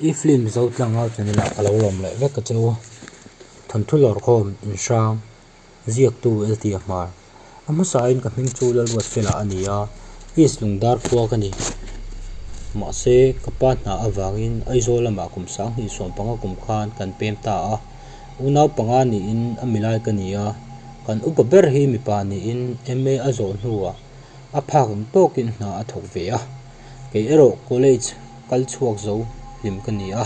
I film zotlang a chuan ila ka lo lawm leh vek a chu thawnthu lawrkhawm inhrang ziaktu a ti a hmar a hmasa in ka hming chu Lalruat Fela a ni a East Lungdar khua ka ni mahse ka pa hna avang in Aizawl lamah kum sang hnih sawm panga kum khan kan pem ta a unau panga ni in a milai ka ni a kan upa ber hi mipa ni in MA a zawh hnu ah a phak ang tawk in hna a thawk ve a. Kei erawh college kal chhuak zo hlim ka ni a,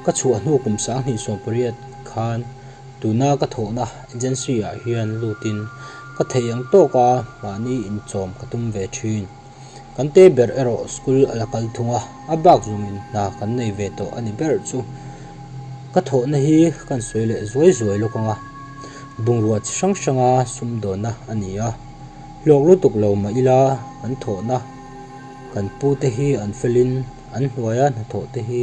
ka chhuah hnu kum sanghnih sawm pariat khan tuna ka thawhna agency ah hian lut in ka theih ang tawk a mahni inchawm ka tum ve thin. Kan te ber erawh school a la kal thung a, a bak zung in hna kan nei ve tawh a ni ber chu. Ka thawhna hi kan sawi leh zuai zuai lawk ang a, bungrua chi hrang hrang a sum dawn na a ni a, hlawk lutuk lo mah ila kan thawhna, Kan pu te hi an fel in an hnuai a hnathawh te hi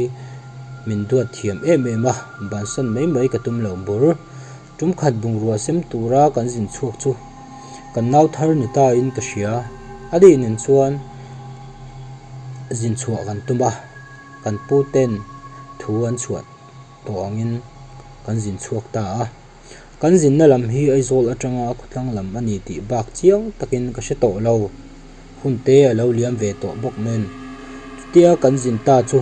min duat thiam em em a, bansan mai mai ka tum lo bur. Tumkhat bungrua sem tura kan zin chhuak chu kan nau thar ni ta in ka hria, a ni nen chuan zin chhuah kan tum a, kan pu ten thu an chhuah tawh ang in kan zin chhuak ta a. Kan zinna lam hi Aizawl atanga a khawtlang lam a ni tih bak chiang takin ka hre tawh lo. Hun te a lo liam ve tawh bawk men. Chutia kan zin ta chu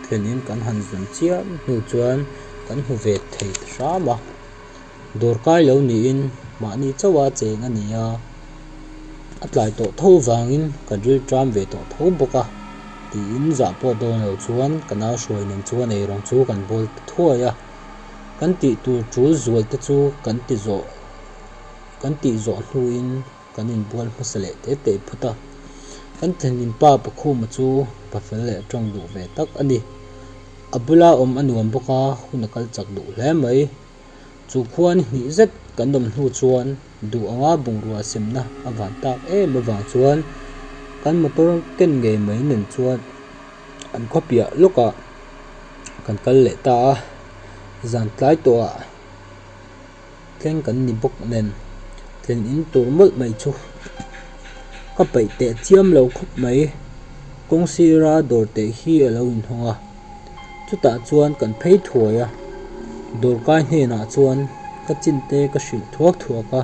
thlenin kan han zun chiah hnu chuan kan hmu ve thei ta hram a. Dawr kai lo niin mahni chauha cheng a nia. A tlai tawh tho vangin kan rilṭam ve tawh tho bawk a, tiin zah pawt dawn lo chuan ka nau hruai nen chu a nei reng chu kan bawl ta thuai a. Kan tih tur tul zual te chu kan ti zawh, kan tih zawh hnuin kan inbual hmasa leh teh teh phut a. Kan thinlinpa pakhuma chu pa fel leh tawng duh ve tak a ni. A bula awm a nuam bawk a, hun a kal chak duh hle mai. Chu khuani hnih zet kan awm hnu chuan. duh anga bungrua semna a van tak em avang chuan kan motor ken ngei mai nen chuan an khawpiah lawkah kan kal leh ta a zan tlai tawhah thleng kan ni bawk nen tlen in tur mawlh mai chu ka peih teh chiam lo khawp mai kawng sira dawr teh hi a lo inhawng a. chutah chuan kan phei thuai a, Dawrkai hnenah chuan ka chinte ka hrilh thuak thuak a,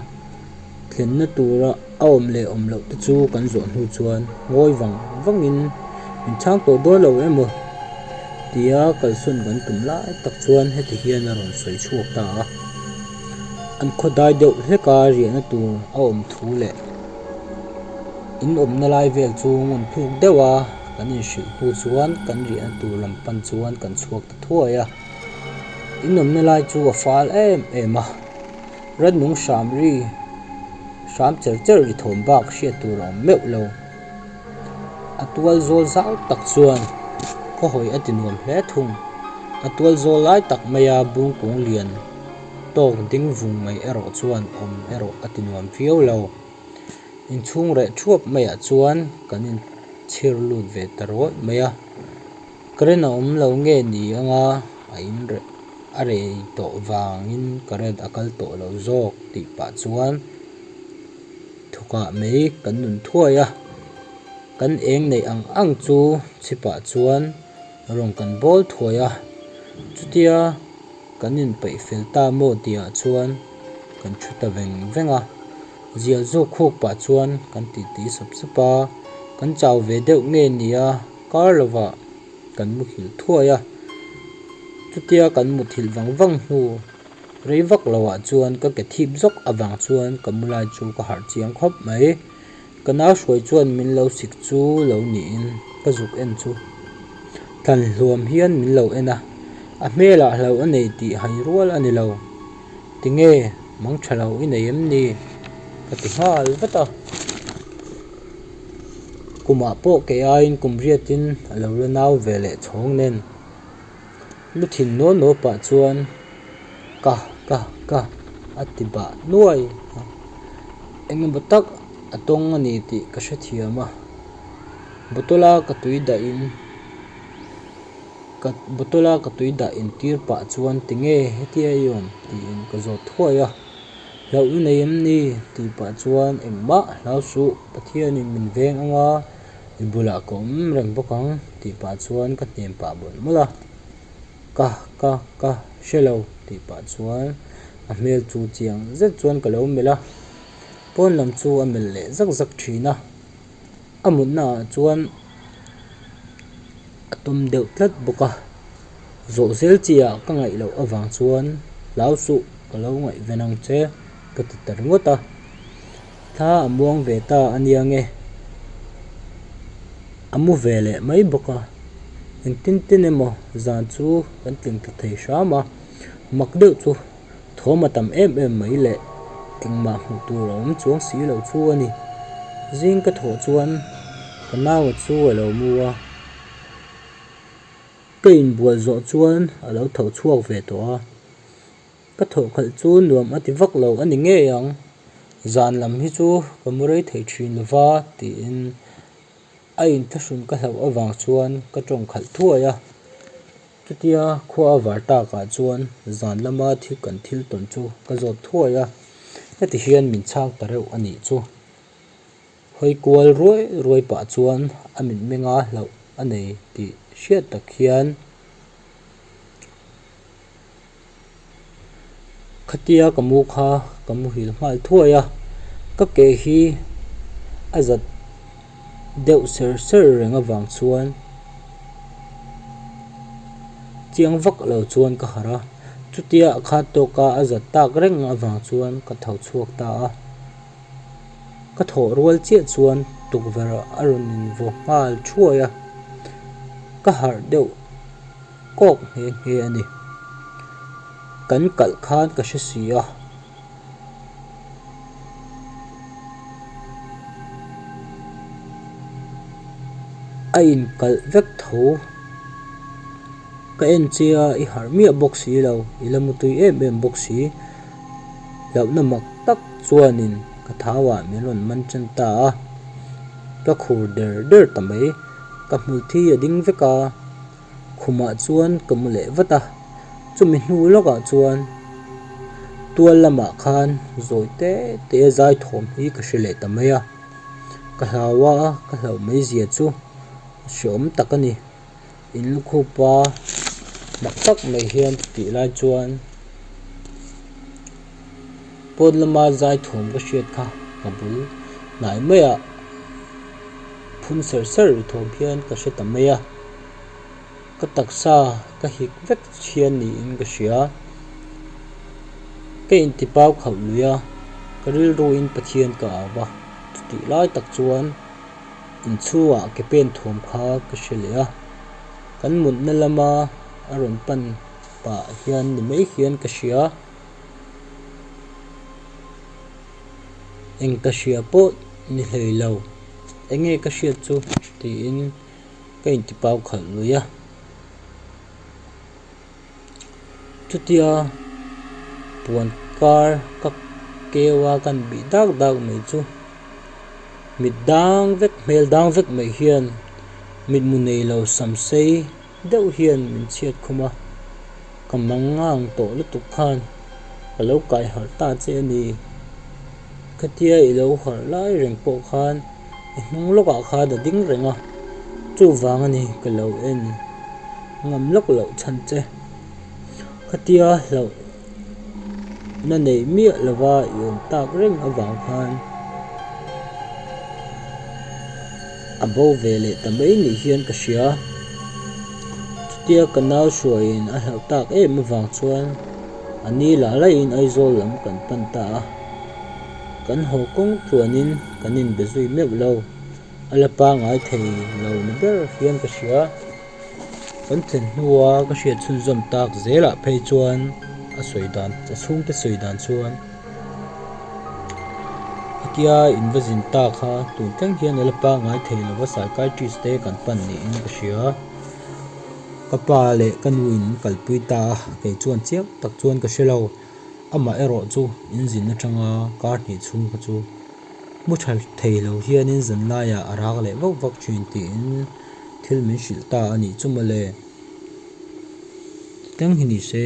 thlenna tura a awm leh awm loh te chu kan zawh hnu chuan ngawi vang vangin min chhang tawh dawn lo emaw tia kalsawn kan tum lai tak chuan heti hian a rawn sawi chhuak ta a, an khawdai deuh hleka riahna tur a awm thu leh inawmna lai vel chu ngawn thluk deuh a. Kan inhrilh hnu chuan kan riahna tur lam pan chuan kan chhuak ta thuai a, inawmna lai chu a fâl êm êm a, rannung hram ri hram cher cher ri thâwm bâk hriat tur a awm meuh lo. A tual zâwl zau tak chuan khawhawi a ti nuam hle thung, a tual zâwl lai tak maia bung kung lian tâwk ding vung mai erawh chuan awm erawh a ti nuam viau lo. Inchhung reh thuap mai ah chuan kan in chhir lut ve ta rawih mai a, ka rin a awm lo nge ni anga a in reh a rei tawh vangin ka red a kal tawh lo zawk tih pah chuan thukah mai kan nun thuai a, kan eng neih ang ang chu chhipah chuan. Rawn kan bawl thuai a, chutia kan inpeih fel ta maw tihah chuan kan thu ta veng veng a. Zial zawk khuk pah chuan kan tih tih sap sap a, kan chau ve deuh nge nia kar lovah kan muthilh thuai a. Chutia kan muthilh vang vang hnu rei vak lo ah chuan ka ke thip zawk avang chuan ka mulai chu ka harh chiang khawp mai. Ka nau hruai chuan min lo sik chu lo niin ka zuk en chu tlan hluam hian min lo en a, a hmelah hlauh a nei tih hai rual a ni lo. Tinge mang tha hlauh i nei em ni? Ka ti nghal vat a. Kumah pawh kei aiin kum riatin a lo la nau ve leh chhawng nen. Lu thin naw naw pah chuan ka ka ka a ti bah nuai a, engemaw tak a tawng a ni tih ka hrethiam a, bottle a ka tui dah in ka bottle a ka tui dah in tir pah chuan tinge hetia i awm tiin ka zawt thuai a, hlauh lu nei em ni tih pah chuan engmah hlausuh pathianin min veng anga. i bulah ka awm reng bawk ang tih pah chuan ka hnem pah mawlh mawlh a ka ka ka hre lo tih pah chuan a hmel chu chiang zet chuan ka lo melh a pawn lam chu a melh leh zak zak thin a a mutna ah chuan a tum deuh tlat bawk a zawh zel chi ah ka ngaih loh avang chuan hlausuh ka lo ngaih ve nang che ka ti ta ringawt a. Thla a muang ve ta a nia nge? A mu ve leh mai bawk a, engtin tin emaw zan chu kan tling ta thei hram a, mak deuh chu thawm a tam em em mai leh engmah hmuh tur a awm chuang si lo chu a ni. Zing ka thawh chuan ka naua chu a lo mu a, ka inbual zawh chuan a lo tho chhuak ve tawh a. Ka thawh khalh chu nuam a ti vak lo a ni ngei ang, zan lam hi chu ka mu rei thei thin lo va tiin a inthlahrun ka hlauh avang chuan ka tawng khalh thuai a, chutia khua a var tak ah chuan zan lama thil kan thil tawn chu ka zawt thuai a, heti hian min chhak ta reuh a nih chu. Hawi kual ruai ruai pah chuan a min menga hlauh a nei tih hriat tak hian khatia ka mu kha ka muhil nghal thuai a, ka ke hi a zat deuh ser ser reng avang chuan chiang vak lo chuan ka harh a, chutia khattawka a zat tak reng avang chuan ka tho chhuak ta a. Ka thawh rual chiah chuan tukverh a rawn invaw nghal thuai a, ka harh deuh kawk nghe nghe a ni. Kan kalh khan ka hre si a, a inkalh vek tho, ka en che a, i harh miah bawk si lo, i la mutui em em bawk si. Hlauhna mak tak chuanin ka thauah min rawn man ṭan ta a, ka khur der der ta mai. Ka hmulthi a ding vek a, khumah chuan ka mu leh vat a. Chumi hnu lawkah chuan tual lamah khan zawi te te a zai thawm hi ka hre leh ta mai a. Ka hlau a, ka hlauh mai zia chu a hre awm tak a ni. in lukhum a mak tak mai hian ka tih lai chuan pawn lama zaithum ka hriat kha ka bul hnai mai ah phun ser ser ri thawm hian ka hre ta mai a ka taksa ka hik vek hian niin ka hria ka inti pau khauh luih a ka rilru in pathian ka au a chutih lai tak chuan-- Inchhungah ka pen thuam kha ka hre leh a, kan mutna lama a rawn pan pah hian ni mai hian ka hria. Eng ka hria pawh ni hlei lo, enge ka hriat chu tiin ka intipau khalh lui a. Chutia puan kar ka keu a kan bih dak dak mai chu mit dang vek hmel dang vek mai hian mit mu nei lo sam sei deuh hian min chhiat khum a, ka mangang tawh lutuk khan ka lo kaiharh ta che a ni. Khatia i lo harh lai reng pawh khan i hnung lawkah khan a ding reng a, chuvang a ni ka lo en ngam lawk loh chhan che. Khatia hlauh na neih miah lova i awm tak reng avang khan a bo ve leh ta mai nih hian ka hria, chutia ka nau hruaiin a hlauh tak em avang chuan. A ni lah laiin Aizawl lam kan pan ta a, kan haw kawng tluanin kan inbe zui meuh lo. A la pangai thei lo ni ber hian ka hria, kan thlen hnua ka hriat chhunzawm tak zelah phei chuan a sawi dan a chhungte sawi dan chuan a kia in va zin ta kha tun tleng hian a la pangai thei lova psychiatrist te kan pan niin ka hria. Ka pa leh ka nu in kalpui ta a, kei chuan chiah tak chuan ka hre lo. Amah erawh chu in zin atanga kar hnih chhung kha chu hmu tha thei lo hianin zan laiah a rak leh vauh vak thin tiin thil min hrilh ta a nih chu mawle. Titlem hi nise.